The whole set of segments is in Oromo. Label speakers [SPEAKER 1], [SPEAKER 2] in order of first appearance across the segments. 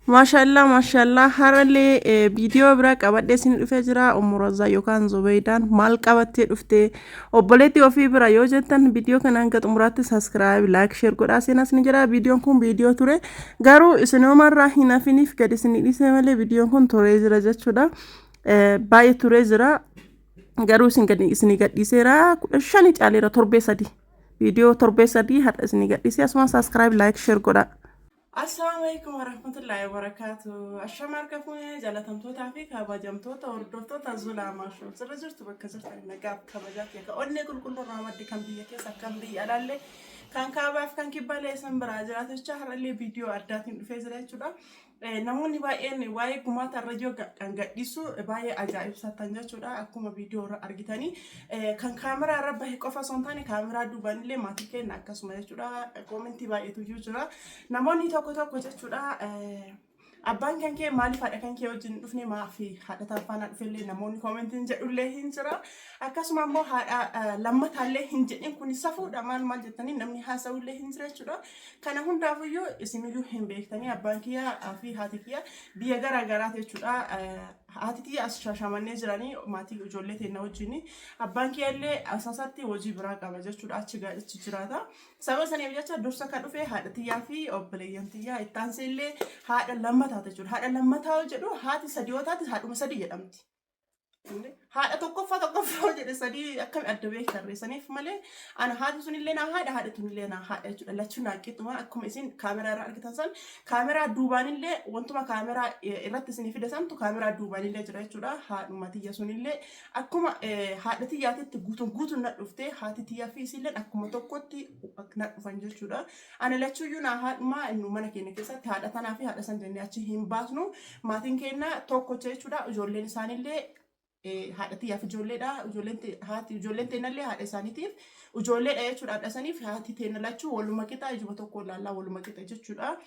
[SPEAKER 1] Maashaallah maashaallah harallee eh, viidiyoo biraa qabadhee isin dhufee jira ummu razaa yookaan zubeydaan maal qabattee dhufte obboleettii ofii bira yoo jettan viidiyoo kana hanga xumuraatti saskiraayib laayik sheer godhaa seenaas ni jira viidiyoon kun viidiyoo ture garuu isinoomarraa hin hafiniif gad isin dhiisee malee viidiyoon kun turee jira jechuudha Eh, baay'ee turee jira garuu isin gadi isin gadhiiseera kudha shani caaleera torbee sadii viidiyoo torbee sadii har'a isin gadhiisee asuma saskiraayib laayik sheer godhaa Assalaamu alaikum warahmatullaahi wabarakaatu. Ashama harka fuunee jaalatamtootaa fi kabajamtoota hordoftoota Zulaa Maashoo. Sirra jirtu bakka jirtan nagaa fi kabajaa fi akka onnee qulqulluu irraa madde kan biyya keessa kan biyya alaallee kan kaabaaf kan kibbaalee isin biraa jiraatu jecha har'allee viidiyoo addaatiin dhufee jira jechuudha. Eh, Namoonni baay'een waa'ee gumaata irra yoo ga- kan gadhiisu baay'ee ajaa'ibsatan jechuudha. Akkuma viidiyoo irra argitanii Kan kaameraa irra bahe qofa osoo hin taane kaameraa duubaan illee maatii keenya akkasuma jechuudha. Koomentii baay'eetu iyyuu jira. Namoonni tokko tokko jechuudha abbaan kan kee maaliif haadha kan kee wajjin hin dhufne maaf haadha taan faanaa dhufe illee namoonni koomentiin jedhullee hin jira. Akkasuma immoo haadha lammataallee hin jedhin kun safuudha maal maal jettanii namni haasa'ullee hin jira jechuudha. Kana hundaafuyyuu isiniyyuu hin beektanii abbaan kiyyaa fi haati kiyyaa biyya garaa garaati jechuudha. Haati tiyya as Shaashamannee jiranii maatii ijoollee teenna wajjin. Abbaan kiyya illee Asaasaatti hojii biraa qaba jechuudha achi ga- achi jiraata. Sababa saniif jecha dursa ka dhufe haadha tiyyaa fi obboleeyyan tiyyaa itti aansee illee haadha lammataa jechuudha. Haadha lammataa yoo jedhu haati sadii yoo taate haadhuma sadii jedhamti. Haadha tokkoffaa tokkoffaa yoo jedhe sadii akkami adda beektarre saniif malee Ana haati sunillee naa haadha, haadha tunillee naa haadha jechuudha. Lachuu naa qixxuma akkuma isin kaameraa irra argitan san kaameraa duubaanillee wantuma kaameraa eh, irratti isinii fida santu kaameraa duubaanillee jira jechuudha. Haadhuma tiyya sunillee akkuma eh, haadha tiyyaatitti guutuun guutuun na dhufte haati tiyyaa fi isilleen akkuma tokkotti ak- na dhufan jechuudha. Ana lachuuyyuu naa haadhuma nu mana keenya keessatti haadha tanaa fi haadha san jennee achi hin baasnu. Maatiin keenya tokkocha jechuudha. Ijoolleen isaanillee haadha tiyyaaf ijoolleedha. Ijoolleen te- haati ijoolleen teennallee haadha isaaniitiif ijoolleedha jechuudha. Haadha saniif haati teenna lachuu waluma qixa ijuma tokko ilaallaa waluma qixa jechuudha.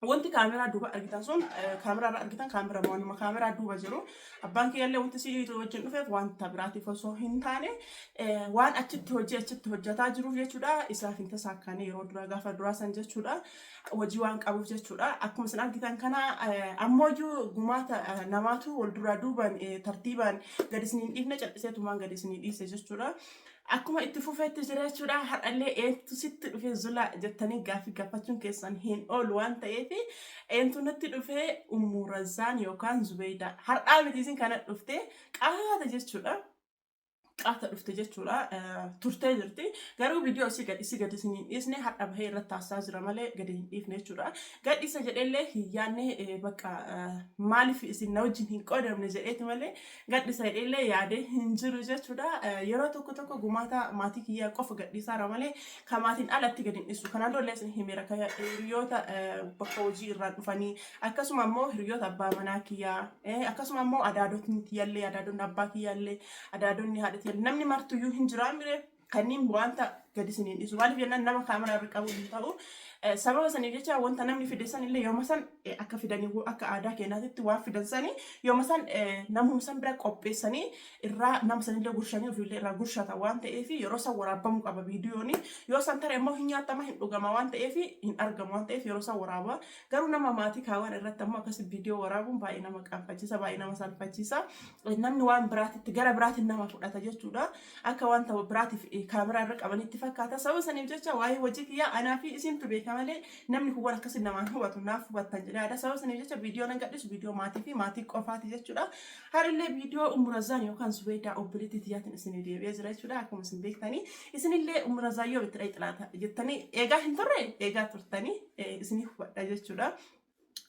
[SPEAKER 1] Wanti kaameraa duuba argitan sun eh, kaameraa irra argitan kaameraa waanuma kaameraa duuba jiru. Abbaan kiyyallee wanti si wajjin dhufeef wanta biraatiif osoo hin taane eh, waan achitti hojii achitti hojjetaa jiruuf jechuudha. Isaaf hin tasaakkaane yeroo duraa gaafa duraa san jechuudha. wajii waan qabuuf jechuudha. Akkuma isin argitan kana ammooyyuu gumaata namaatu wal duraa duuban tartiibaan gad isin hin dhiifne cal'iseetumaan gad isin dhiise jechuudha. Akkuma itti fufeetti jira jechuudha. Har'allee eentu sitti dhufee zula jettanii gaaffii gaafachuun keessan hin oolu waan ta'eef eentu natti dhufee ummu razzaan yookaan zubeeyda har'aa miti isin kana dhufte qaata jechuudha. qaata dhufte jechuudha turtee jirti garuu viidiyoo isii gad isii gad isin hin dhiisne hadha bahee irratti taasisaa jira malee gad hin dhiifne jechuudha gad isa jedhellee hin yaadne bakka maaliif isin na wajjin hin qoodamne jedheeti malee gad isa jedhellee yaadee hin jiru jechuudha yeroo tokko tokko gumaata maatii kiyyaa qofa gad dhiisaara malee kan maatiin alatti gad hin dhiisu kanaan dura isin himeera kan hiriyoota bakka hojii irraa dhufanii akkasuma ammoo hiriyoota abbaa manaa kiyyaa eh, akkasuma ammoo adaadotni tiyyallee adaadonni abbaa kiyyaallee adaadonni haadha tiyyallee namni martuyyuu hin jiraa mire kanniin wanta gadi isiniin dhiisu maaliif jennaan nama kaameraa irra qabu hin ta'u Eh, sababa saniif jecha wanta namni fide san illee yooma san eh, akka fidanii wo- akka aadaa keenyaatitti waan fidan sanii yooma san eh, namuma san bira qopheessanii irraa nama sanillee gurshanii ofiillee irraa gurshata waan ta'eef yeroo san waraabamuu qaba viidiyooni yoo san tare immoo hin nyaatama hin dhugama waan ta'eef hin argamu waan ta'eef yeroo san waraaba Garuu nama maatii kaawan irratti ammoo akkasi viidiyoo waraabuun baay'ee nama qaanfachiisa, baay'ee nama salphachiisa. Namni waan biraatitti gara biraatiin nama fudhata jechuudha. Akka wanta biraatiif eh, kaameraa irra qabanitti fakkaata. Sababa saniif jecha waa'ee hojii kiyyaa anaa fi isintu beeka malee namni kun waan akkasii namaan hubatu naaf hubattan jedhee yaada. Sababa saniif jecha viidiyoo nan gadhiisu viidiyoo maatii fi maatii qofaati jechuudha. Har'illee viidiyoo Ummurazaan yookaan Zubeedaa obboleettii tiyyaatiin isinii deebi'ee jira jechuudha. Akkuma isin beektanii isinillee Ummurazaan yoom itti dhaqxi laata jettanii eegaa hin turre eegaa turtanii. isinii hubadha jechuudha.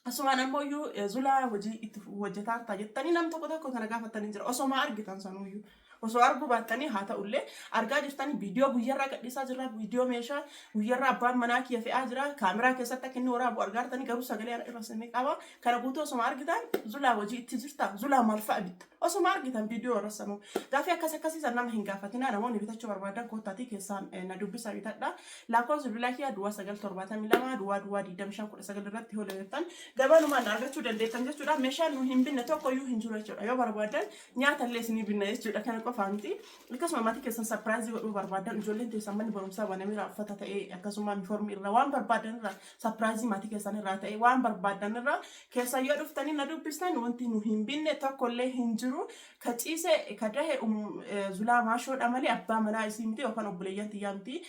[SPEAKER 1] Asumaan ammoo iyyuu zulaa hojii itti hojjetaa ta'a jettanii nam tokko tokko kana gaafatanii jira. Osoo maa argitan sanuu iyyuu. Osoo arguu baattanii haa ta'ullee argaa jirtanii viidiyoo guyyarraa gadhiisaa jirra viidiyoo meeshaa guyyarraa abbaan manaa kiyya fe'aa jira kaameraa keessatti akka inni waraabu argaa jirtanii garuu sagalee ana irra sinni qaba kana guutuu osoo argitan zulaa hojii itti jirta zulaa maal fa'a bitta osoo argitan viidiyoo warra sanuu gaafii akkas akkasii san nama hin gaafatinaa namoonni bitachuu barbaadan koottaatii keessaan na dubbisa bitadha Lakkoofsi bilbilaa kiyyaa duwwaa 9 72 duwwaa duwwaa 25 19 irratti yoo dabartan gabanumaan na argachuu dandeettan jechuudha. Meeshaan nu hin binne tokko iyyuu hin jiru jechuudha. Yoo barbaadan nyaata illee isinii binna jechuudha. Kana qofaa miti. Akkasuma maatii keessan sapiraayizii godhuu barbaadan ijoolleen teessan manni barumsaa banameera uffata ta'ee akkasuma uniformii irraa waan barbaadan irraa sapiraayizii maatii keessan irraa ta'ee waan barbaadan irraa keessan yoo dhuftanii na dubbistan wanti nu hin binne tokko illee hin jiru. Ka ciise ka dahe um zulaa maashoo dha malee abbaa manaa isii miti yookaan obboleeyyan tiyyaa miti.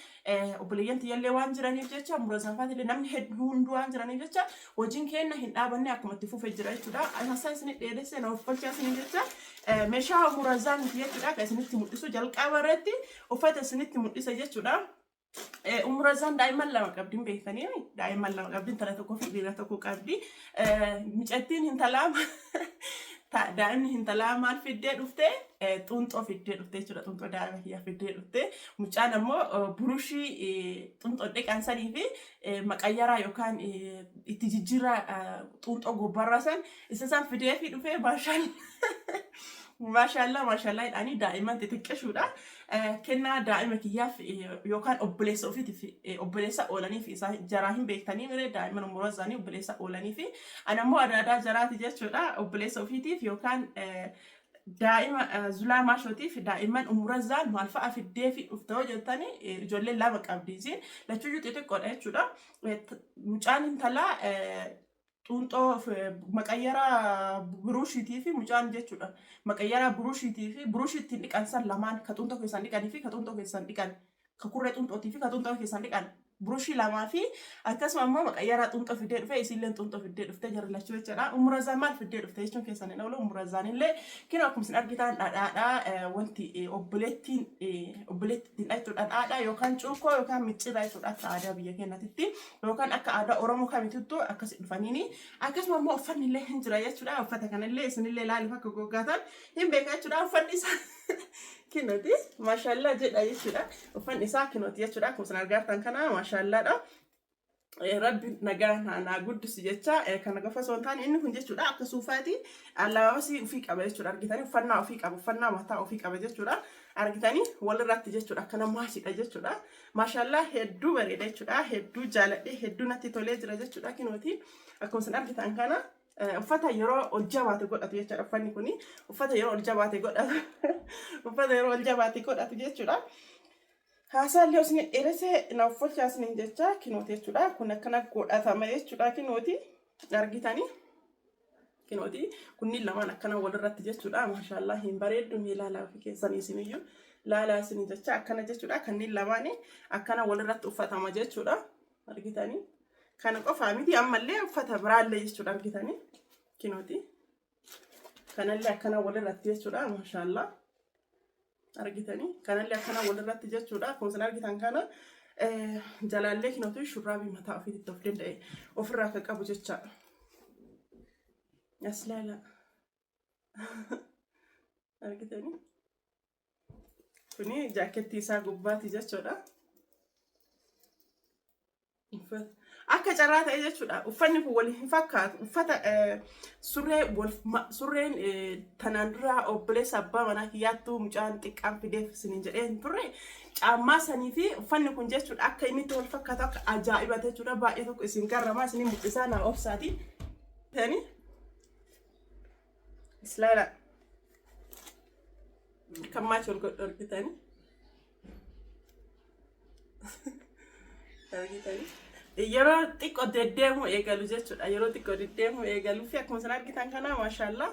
[SPEAKER 1] Obboleeyyan tiyyallee waan jiraniif jecha umra zaafaatillee namni hedduu hunduu waan jiraniif jecha hojiin keenna hin dhaabanne akkuma itti fufe jira jechuudha. Hassan isinit dheeresse na ofkolchaa isiniin jecha meeshaa umra zaa miti jechuudha ka isinitti mul'isu jalqaba irratti uffata isinitti mul'ise jechuudha. Eh, Ummu Razaan daa'imman lama qabdi hin beektanii mi? Daa'imman lama qabdi intala tokkoo fi dhiira tokko qabdi. Eh, Mucattiin intalaa ta- daa'imni intalaa maal fiddee dhufte? Eh, Xunxoo fiddee dhufte jechuudha. Xunxoo daa'ima kiyyaa fiddee dhufte. Mucaan ammoo eh, burushii eh, xunxoo dhiqan sanii fi eh, maqayyaraa yookaan eh, itti jijjiirraa eh, xunxoo gobbarraa san isa san fidee fi dhufee maashaallaa. Maashaallaa maashaallaa jedhanii daa'imman xixiqqishuudha. Kennaa daa'ima kiyyaaf yookaan obboleessa ofiitiif obboleessa oolaniif isaa jaraa hin beektanii mire daa'imman umuraa isaanii obboleessa oolanii fi ana immoo adaadaa jaraati jechuudha obboleessa ofiitiif yookaan daa'ima zulaa maashootiif daa'imman umura zaan maal fa'a fiddee fi dhufte yoo jettanii ijoollee lama qabdi isiin lachuyyuu xixiqqoodha jechuudha. Mucaan intalaa Xuunxoo maqayyaraa buruushiitii fi mucaan jechuudha. Maqayyaraa buruushiitii fi buruushii ittiin dhiqan san lamaan ka xuunxoo keessaan dhiqanii fi ka xuunxoo keessaan dhiqan ka kurree xuunxootii fi ka xuunxoo keessaan dhiqan buruushii lamaa fi akkasuma immoo maqayyaraa xuunxoo fiddee dhufee isiilleen xuunxoo fiddee dhuftee jarri lachuu jechuudha. Ummurazaan maal fiddee dhufte jechuun keessan hin oolu ummurazaan illee kinoo akkuma isin argitaan dhadhaadhaa wanti obboleettiin obboleetti ittiin dhaqxu dhadhaadhaa yookaan cuukkoo yookaan micciirraa jechuudha akka aadaa biyya keenyatitti. yookaan akka aadaa Oromoo kamituttu akkasi dhufaniini. Akkasuma immoo uffanni illee hin jira jechuudha. Uffata kana illee isin illee ilaaluuf akka goggaatan hin beeka jechuudha. Uffanni isaa kinooti maashaallaa jedha jechuudha. Uffanni isaa kinooti jechuudha. Akkuma isin argaa jirtan kana maashaallaadha. Eh, Rabbi nagaa naa naa guddisu jecha eh, kana qofa osoo hin taane inni kun jechuudha akka suufaati alaabasii ofii qaba jechuudha argitanii uffannaa ofii qaba uffannaa mataa ofii qaba jechuudha argitanii walirratti jechuudha akkana maasiidha jechuudha Maashaallah hedduu bareeda jechuudha. Hedduu jaaladhe hedduu natti tolee jira jechuudha kinooti. Akkuma isin argitan kana eh, uffata yeroo ol jabaate godhatu jechuudha uffanni kuni. Uffata yeroo ol jabaate godhatu. Uffata yeroo ol jabaate godhatu jechuudha. Haasaallee osoo hin dheeresse na uffachiisa isiniin jecha kinooti jechuudha. Kun akkana godhatama jechuudha kinooti argitanii. Kinooti kunniin lamaan akkana walirratti jechuudha. Maashaallah hin bareeddu mee laalaa ofii keessanii isiniyyuu laalaa isinii jecha akkana jechuudha. Kanniin lamaan akkana walirratti uffatama jechuudha. Argitanii kana qofaa miti ammallee uffata biraallee jechuudha argitanii kinooti kanallee akkana walirratti jechuudha maashaallah. argitanii kanallee akkana walirratti jechuudha akkuma isin argitan kana eh, jalaallee kinootu shurraabii mataa ofiitti of danda'e ofirraa akka qabu jecha as laala argitanii kuni jaakkeettii isaa gubbaati jechuudha Uffata. Akka carraa ta'e jechuudha. Uffanni kun wal hin fakkaatu. Uffata eh, surree wal ma- surreen eh, tanaan dura obboleessa abbaa manaa kiyyaattuu mucaan xiqqaan fideef isiniin jedhee hin turre. Caammaa sanii fi uffanni kun jechuudha akka inni itti wal fakkaatu akka ajaa'iba jechuudha. Baay'ee tokko isin garramaa isin mul'isaa naa obsaati. Tani islaala kan maachi wal godhu argitanii. yeroo xiqqoo deddeemuu eegalu jechuudha yeroo xiqqoo deddeemuu eegaluu fi akkuma isin argitan kana maashaallaa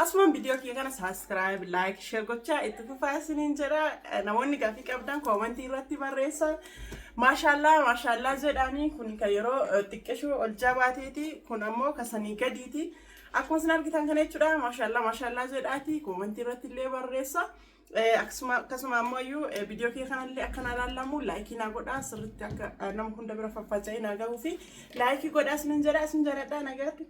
[SPEAKER 1] asumaan viidiyoo kiyya kana saaskiraayib laayik sheer gochaa itti fufaa isiniin jedha namoonni gaafii qabdan koomantii irratti barreessa maashaallaa maashaallaa jedhaanii kun kan yeroo xiqqeshuu ol jabaateeti kun ammoo kasanii gadiiti akkuma isin argitan kana jechuudha maashaallaa maashaallaa jedhaati koomantii irratti illee barreessa. Eh, akkasuma akkasuma ammoo iyyuu eh, viidiyoo kee kanallee akka naa laallamu laayikii naa godhaa sirriitti akka eh, nama hunda bira faffaca'ee naa gahuu fi laayikii godhaa isinin jedha isin jaladhaa nagaatti.